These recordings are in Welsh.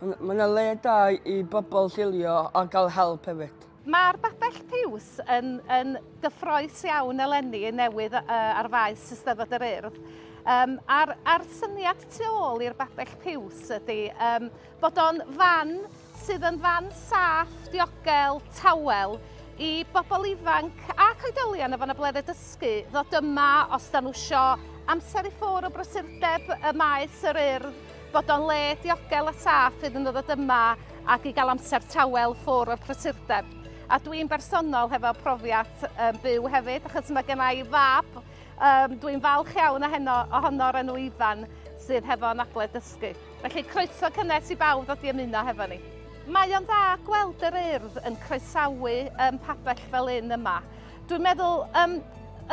Mae yna le da i bobl chilio a cael help hefyd. Mae'r babell piws yn, yn gyffroes iawn eleni yn newydd uh, ar faes Eisteddfod yr Urdd. Um, a'r, a'r syniad tu ôl i'r babell piws ydy um, bod o'n fan sydd yn fan saff, diogel, tawel i bobl ifanc a coedolion efo na bledde dysgu ddod yma os da nhw sio amser i ffwr o brysurdeb y maes yr urdd Bod o'n le diogel a saff fydd yn ddod yma ac i gael amser tawel ffwr o'r prysurdeb. A dwi'n bersonol hefo profiad um, byw hefyd, achos mae gen i fab, um, dwi'n falch iawn heno, ohono o'r enw Ifan, sydd hefo anabledd dysgu. Felly croeso cynnes i bawb ddod i ymuno hefo ni. Mae o'n dda gweld yr urdd yn croesawu um, pabell fel un yma. Dwi'n meddwl um,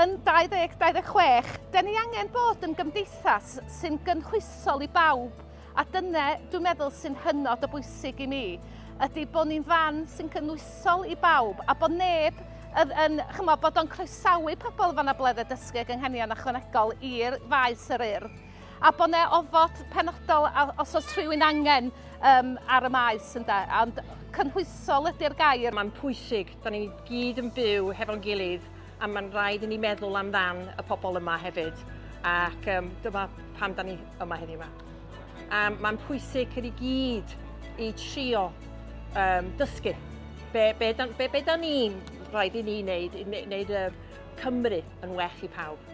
yn 2026, dyn ni angen bod yn gymdeithas sy'n gynhwysol i bawb, a dyna dwi'n meddwl sy'n hynod o bwysig i mi, ydy bod ni'n fan sy'n gynhwysol i bawb, a bod neb yn, yn chymo, bod o'n croesawu pobl fan y bledde dysgu ag ynghenion ychwanegol i'r faes yr urdd, a bod ne ofod penodol os oes rhywun angen um, ar y maes, ynda, ond cynhwysol ydy'r gair. Mae'n pwysig Da ni gyd yn byw hefo'n gilydd a mae'n rhaid i ni meddwl amdan y pobl yma hefyd ac um, dyma pam da ni yma heddiw yma. Um, mae'n pwysig i gyd i trio um, dysgu be, be, da, be, be da ni'n rhaid i ni wneud, i wneud y Cymru yn well i pawb.